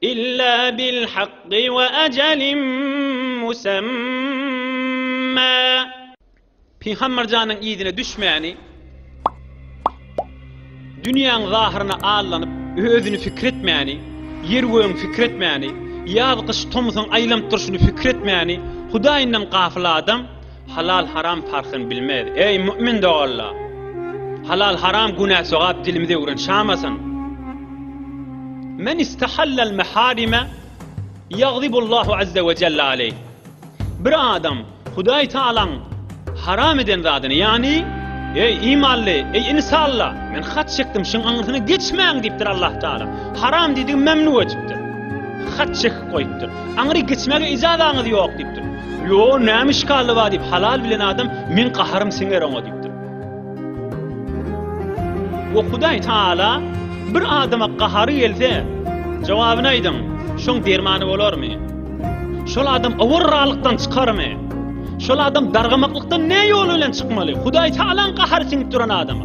Illa bil hakky we ajalin musamma. Pygamberjanyň yzyna düşmäni Dünýäň zahyryna allanyp, özüni pikir etmäni, ýer-gögüň pikir etmäni, ýaz-gyş, tomsuň aýlanyp durşuny pikir etmäni Hudaýyndan gafyl adam, Halal-haram parhyny bilmez. Eý, mu'min doganlar! Halal-haram günä-sogap dilimizi öwren şamasyn. Men istahallal meharime ýagzibullahu azze we jelle aleyh. Bir adam Hudaý Taalaň haram eden zadyny, ýagny, Eý, imanly, eý, insanlar, men hat çekdim, şuň aňyrsyna geçmäň diýipdir Allah Taala. Haram diýdigi memnu edipdir. Hat çekip goýupdyr. Aňry geçmäge ijazaňyz ýok diýipdir. Ýo, näme işgaly bar diýip, halal bilen adam, meň gaharym siňer oňa diýipdir. We Hudaý Taala bir adama gahary gelse, jogabyny aýdyň, şoň dermany bolarmy? Şol adam owarralykdan çykarmy? Şol adam dargamaklykdan ne ýol bilen çykmaly? Hudaý Taalaň gahary siňip duran adama.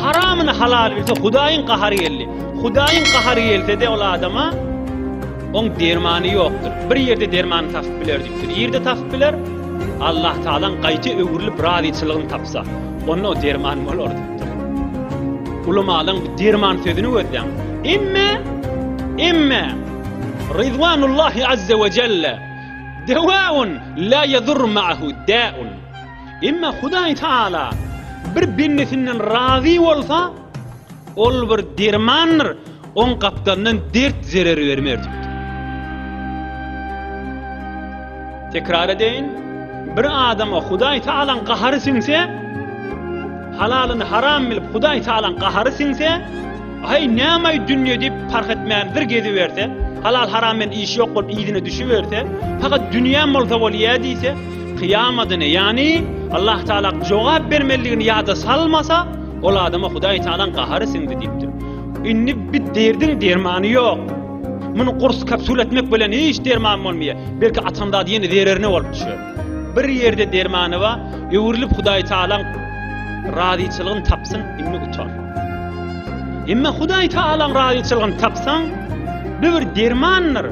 Haramyny halal bilse Hudaýyň gahary geldi. Hudaýyň gahary gelse-de ol adama oň dermany ýokdur. Bir ýerde dermany tapyp biler diýipdir. Ýerde tapyp biler. Allah Taalaň gaýta öwrülip razyçylygyny tapsa, onda o derman bolar diýipdir. Ulamalaryň bu derman sözüni gözläň. Emme, emme Rizwanullahi azza we jelle dewaun la yadur ma'hu da'un. Emma Hudaý Taala bir bendesinden razy bolsa, ol bir dermandyr, oň gapdalyndan dert zerer bermer diýdi. Tekrar edeýin, bir adama Hudaý Taalaň gahary siňse, halalyny haram bilip Hudaý Taalaň gahary siňse, aý näme dünýe diýip parh etmän bir gezi berse, halal haram bilen iş ýok bolup ýüzüne düşüp berse, fakat dünýäm bolsa bolýa diýse, Kyýamadyny, ýagny Allah Taala jogap bermelidigini ýada salmasa, ol adama Hudaý Taalanyň gahary siňdi diýipdir. Indi bi derdiň dermany ýok. Muny gurs kapsula etmek bilen hiç derman bolmaýar. Belki atan zady ýene zererine bolup düşer. Bir ýerde dermany bar, öwrülip Hudaý Taalaň razyçylygyny tapsyn, indi utan. Emma Hudaý Taalaň razyçylygyny tapsaň, bu bir dermandyr.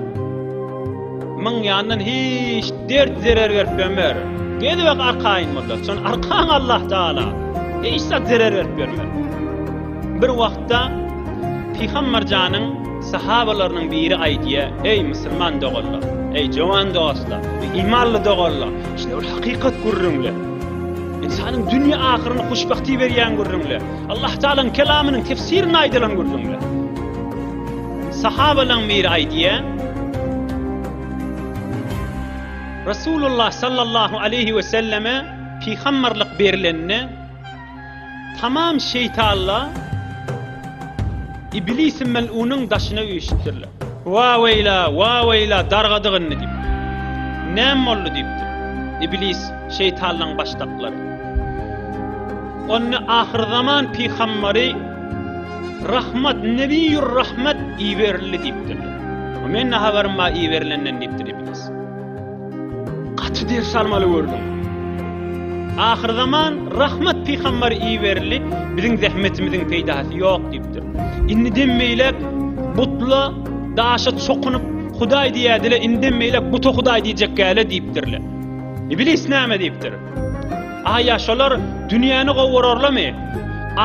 Myň ýandan hiç dert zerer berip bilmer. Gezibek arkaýyn bollar. Şon arkaň Allah Taala hiç zat zerer berip bilmer. Bir wagtda Pygamber janyň sahabalarynyň biri aýdýar, eý musulman doganlar, eý jowan dostlar, eý imanly doganlar, şine bir hakykat gürrüňle. Ynsanyň dünýä ahyryny huşbagty berýän gürrüňle. Allah Taalaň kelamynyň tefsirini aýdylan gürrüňle. Sahabalaň biri aýdýar, Resulullah sallallahu aleýhi we selleme pygamberlik berilende, tamam şeýtanlar Iblisi mel'unyň daşyna üýşüpdirler. Wa-weýla, wa-weýla, dargadyk indi diýip. Näme boldy diýipdir. Iblis, şeýtanlaň başdaklary. Onda ahyrzaman pygamberi Rahmat, Nebiýur Rahmat iberildi diýipdirler. Menne habarym bar iberilenden diýipdir Iblis. Gaty ders almaly gördüm. Ahyr zaman Rahmat pygamber iberildi, biziň zähmetimiziň peýdasy ýok diýipdir. Indi dem beýläk butla daşa çokunyp Hudaý diýädile, indi dem beýläk buta Hudaý diýjek gäle diýipdirler. Iblis näme diýipdir? Aýa şolar dünýäni gowurarlamy?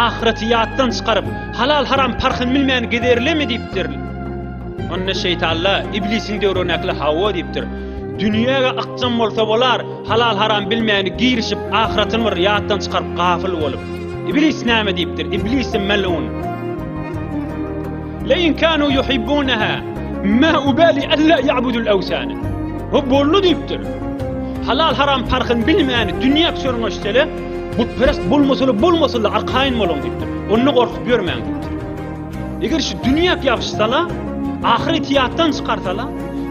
Ahyreti ýatdan çykaryp, halal-haram parhyny bilmän gezerlimi diýipdir. Onda şeýtalla iblisiň döwründäkile hawa diýipdir. Dünýäge ykjam bolsa bolar, halal-haram bilmäni girişip, ahyretin bir ýatdan çykaryp gafyl bolup. Iblis näme diýipdir? Iblisi melun. Leýin kanu yuhibbunaha ma ubali alla ya'budul awsana. Bu bollu diýipdir. Halal haram parhyny bilmän dünýä çörňeşseler, butperest bolmasalar bolmasalar arkaýyn boluň diýipdir. Onda gorkup ýörmäň diýipdir. Eger şu dünýä ýapyşsalar, ahyret ýatdan çykarsalar,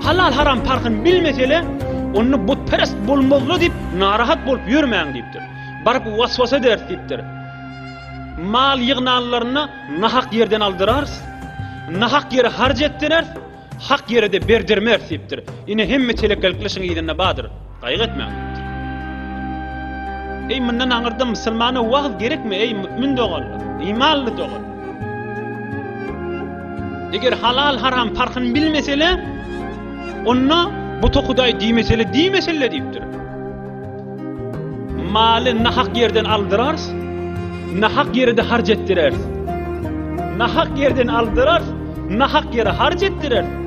halal haram parhyny bilmeseler, onda butperest bolmazlar diýip narahat bolup ýörmäň diýipdir. Baryp waswasa ders diýipdir. Mal ýygnanlaryna Nahak ýerden aldyrarys, nahak ýere harç etdireris, hak ýere-de berdirmeris diýipdir. Ine, hemme telekelikli işiň yzynda bardyr. Gaýgy etmäň diýipdir. Eý, mundan aňyrda musulmana wagyz gerekmi, eý, mümin doganlar, imanly doganlar? Eger halal-haram parhyny bilmesele, onda buta hudaý diýmesele, diýmesele diýipdir. Maly nahak ýerden aldyrarys, nahak ýere-de harç etdireris. Nahak ýerden aldyrarys, nahak ýere harç etdireris.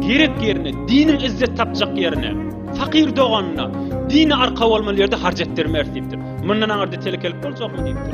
Gerek ýerine, diniň izzet tapjak ýerine, fakir doganyna, dini arka bolmaly ýerde harç etdirmeris diýipdir. Mundan aňyrda telekelik boljakmy diýipdir.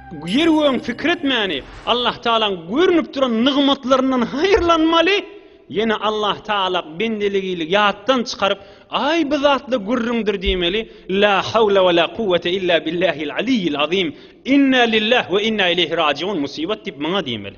Ýeri gögüň pikir etmäni, Allah Tagalaň görnüp duran nygmatlaryndan haýyrlanmaly, ýene Allah Tagala bendeligili ýatdan çykaryp, Aý bu zatla gürrüňdir diýmeli, La hawla we la kuwwete illa billahil aliyyil azim, Inna lillah we inna ileýhi rajiun, Musibat diýip, maňa diýmeli.